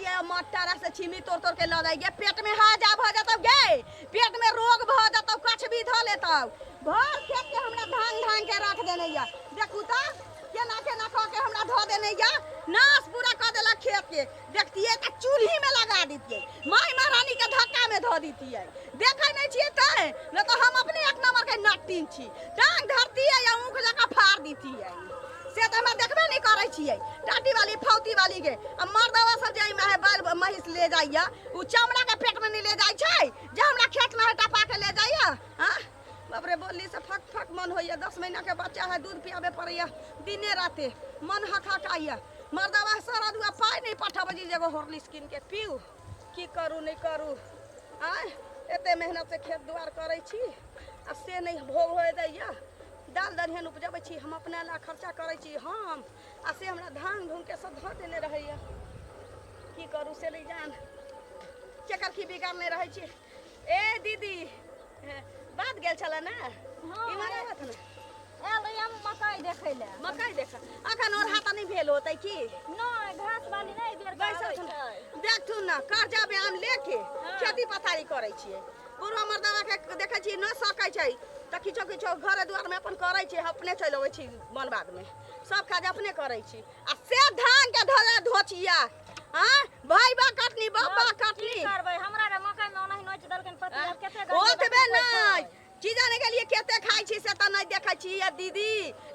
ये मट्टारा से छिमी तोड़ तोड़ के लऽ जाइ गे पेट में हाजा भऽ जतौ गे पेट में रोग भऽ जतौ कछ भी धऽ लेतौ भर खेत के हमरा धान धान के रख देने या देखू तऽ केना केना कऽ के हमरा धऽ देने या नाश पूरा कऽ देलक खेत के देखतियै तऽ चूल्हिमे लगा दितियै माय महारानीके धक्कामे धऽ दितियै देखै नहि छियै तैं नहि तऽ हम अपने एक नम्बरके नट्टिन छी टाँग धरतियै आ ऊँख जकाँ फाड़ दितियै से तऽ हमरा देखबे नहि करै छियै टाटी वाली फौती वाली के आ मर्दवा सब जे एहि माहे बैल महींस ले जाइया ओ चमड़ा के पेट में नहीं ले जाय छै जे हमरा खेत में हटा पा के ले जाइया हाँ? बाप रे बोली से फक फक मन होइए दस महीना के बच्चा है दूध पियाबे पड़ैए दिने राते मन हकहकाइए मर्दवा सारा दुआ पाइ नहि पठाबै छी जे एगो हॉर्लिक्स कीन के पीऊ की करू नहि करू आय एते मेहनत से खेत दुआर करै छी आ से नहि भोग होय दैए दाल दलहन उपजबै छी हम अपना ला खर्चा करै छी हम आ से हमरा धान धुन के सब धऽ देने रहैए की करू से नहि जान केकर की बिगाड़ने रहै छी ए दीदी बात गेल छला ना हाँ, इमहर ए- आवत ना आयल रही हम मकई देखै ले मकई देख अखन और हाथ नहीं भेल होतै की नहि घास बाली नहि बेर बैसल छल देखथुन ना कर्जा बयान लेके खेती पथारी करै छियै बुढ़ो मर्दवा के देखै छियै न सकै छै तऽ किछो किछो घरे दुआर में अपन करै छियै अपने चलि अबै छी मन बाद में सब काज अपने करै छी आ से धान के धोरा धोचिया हाँ भाई बा कटनी बाबा कटनी की करबै हमरा रे मकई में ओनाहि नोच देलकन पति आब केते गंजी ओतबे बटुक होइ छै। नहीं की जाने के लिए केते खाई छी से त नहीं देखै छी ये दीदी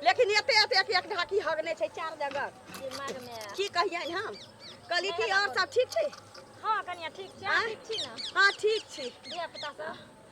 लेकिन एते एते एक एक ढाकी हगने छै चार जगह दिमाग में की कहियन हम कहली कि और सब ठीक छै हाँ कनिया ठीक छै आँय? ठीक छी ना हाँ ठीक छी धिया पुता सब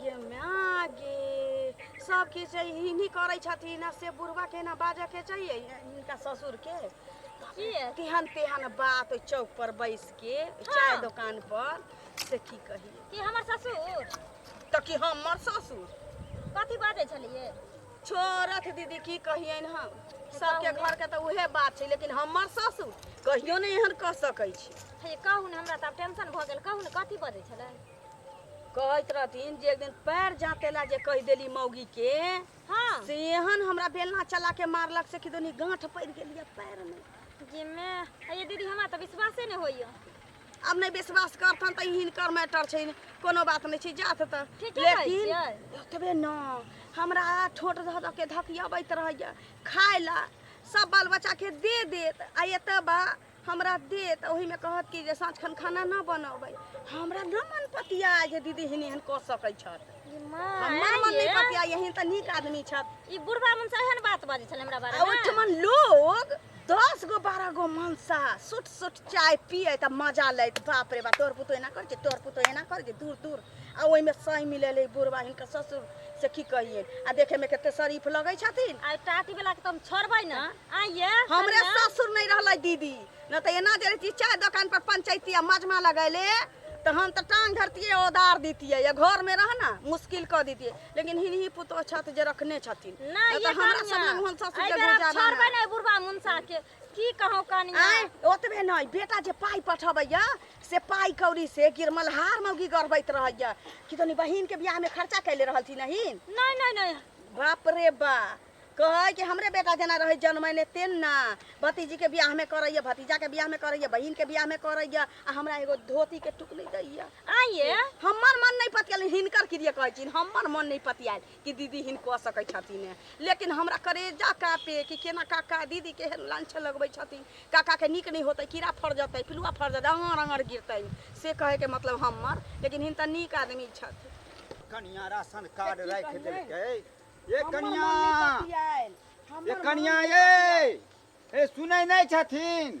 गे माँ गे सब के छै हिनी करै छथिन आ से बुढ़वा के ना बाजऽ के चाहिए इनका ससुर के किए तेहन तेहन बात ओइ चौक पर बैस के चाय हाँ। दुकान पर से की कही कि हमर ससुर त कि हमर ससुर कथी बाजै छलिए छोड़त दीदी की कहियन हम सबके घर के तऽ उहे बात छै लेकिन हमर ससुर कहियो नहि एहन कऽ सकै छी हे कहू ने हमरा तऽ आब टेंशन भऽ गेल कहू ने कथी बजै छलै कहैत रहथिन जे एक दिन पैर जाते ला जे कह देली मौगी के हाँ से एहन हमरा बेलना चला के मारलक से कि दोनी गांठ पड़ गेलिए पैर में जिमे ये दीदी हमरा तो विश्वासे नहीं होइयो अब नहीं विश्वास करथन तो हिनकर मैटर छै कोनो बात नहीं छै जात त ठीके कहै लेकिन छियै। ओतबे न हमरा ठोट धऽ धऽ के धकियबैत रहैया खाय ला सब बाल बच्चा के दे देत आ एतऽ बा हमरा देत तऽ ओहिमे कहत कि जे साँझ खन खाना ना बनबै हमरा ना मन पतिया जे दीदी हिन एहन कऽ सकै छथि ई माँ, हमर मन नहि ये, पतिया एहन तऽ नीक आदमी छथि ई बुढ़बा मन से एहन बात बाजै छलै हमरा बारे आ मे ओहिठमन लोग दस गो बारह गो मनसा सुट सुट चाय पिए तऽ मजा लैत बाप रे बाप तोर पुतो एना कर जे तोर पुतो एना कर जे दूर दूर आ ओहिमे सही मिलल है बुढ़वा हिनकर ससुर से की कहिए आ देखे में कते शरीफ लगे छथिन आ टाटी वाला के तुम छोड़बै ना आइए हमरे ससुर नहीं रहलै दीदी न तो एना जे रहती चाय दुकान पर पंचायती आ मजमा लगैले तो हम तो टांग धरतिए ओदार दीतिए या घर में रह ना मुश्किल कर दीतिए लेकिन हिनही पुतोह छत जे रखने छथिन ना न ये तो हमरा सब लग हम ससुर के गुजारा ना। छोड़बै ना बुढ़वा मुंसा के की कहूँ कनिया आँय ओतबे नहि बेटा जे पाइ पठबैया से पाइ कौड़ी से गिर मल्हार मौगी गढ़बैत रहैया कि तनी बहिन के बियाह में खर्चा कैले रहलथिन नहीं नहीं नहीं नहीं बाप रे बा कहै कि हमरे बेटा जेना रहै जनमैने तेन ना भतीजी के बियाह में करैया भतीजा के बियाह में करैया बहिन के बियाह में करैया आ हमरा एगो धोती के टुकड़ी दैया आइए हमर मन नहीं पतियाल हिनकर क्रिया कहै छी हमर मन नहीं पतियाल कि दीदी हिन कऽ सकै छथिन ने लेकिन हमरा करेजा कापे कि केना काका दीदी के एहन लांछ लगबै छथिन काका के नीक नहि होतै कीड़ा फड़ जेतै पिलुआ फड़ जेतै अङर अङर गिरतै से कहै के मतलब हमर लेकिन हिन तऽ नीक आदमी छथि कनिया राशन कार्ड की राखि कहियै? देलकै ये हमर कनिया मन नहि पतियाएल। हमर ये मन कनिया नहि ये ए सुनै नहि छथिन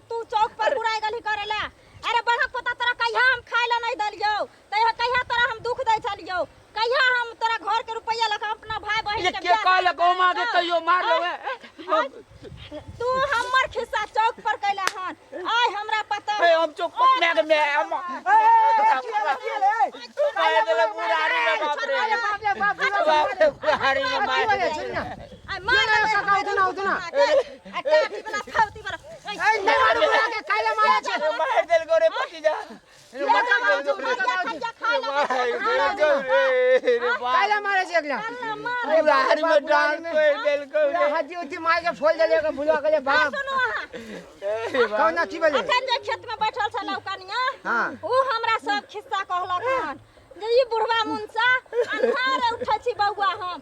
तू चौक पर बुराई गली करेला अरे बड़हक पोता तोरा कहिया हम खाए ला नहीं दलियो तहिया कहिया तोरा हम दुख दे छलियो कहिया हम तोरा घर के रुपया लगा अपना भाई बहन ये के के बियाह कहल में गौ माँ के हाँ, कहियो मार हाँ, लेवे तू हमर खिस्सा चौक पर कैला हन आय हमरा पता ए, हम चौक पर मैं के मैं हम मार देले बुढ़ारी में बाप रे बाप रे बाप रे बाप रे बुढ़ारी में मार देले। आय मार देले, उतना, उतना। आ काटी वाला फौती वाला मार देल गो रे पति जा रे मार देल गो रे मार देल गो रे रे बाप कायला मारे छै एकला रे बाहर में डांग कोई देल गो रे हड्डी उड्डी मार के फोल देले के भुलवा गेले बाप सुनो अहाँ रे बाप कौन अथी भेले अखन जे खेत में बैठल छल कनिया हाँ। ओ हमरा सब खिस्सा कहलक हन जे ई बुढ़वा मुंसा अन्हार उठै छी बौआ हम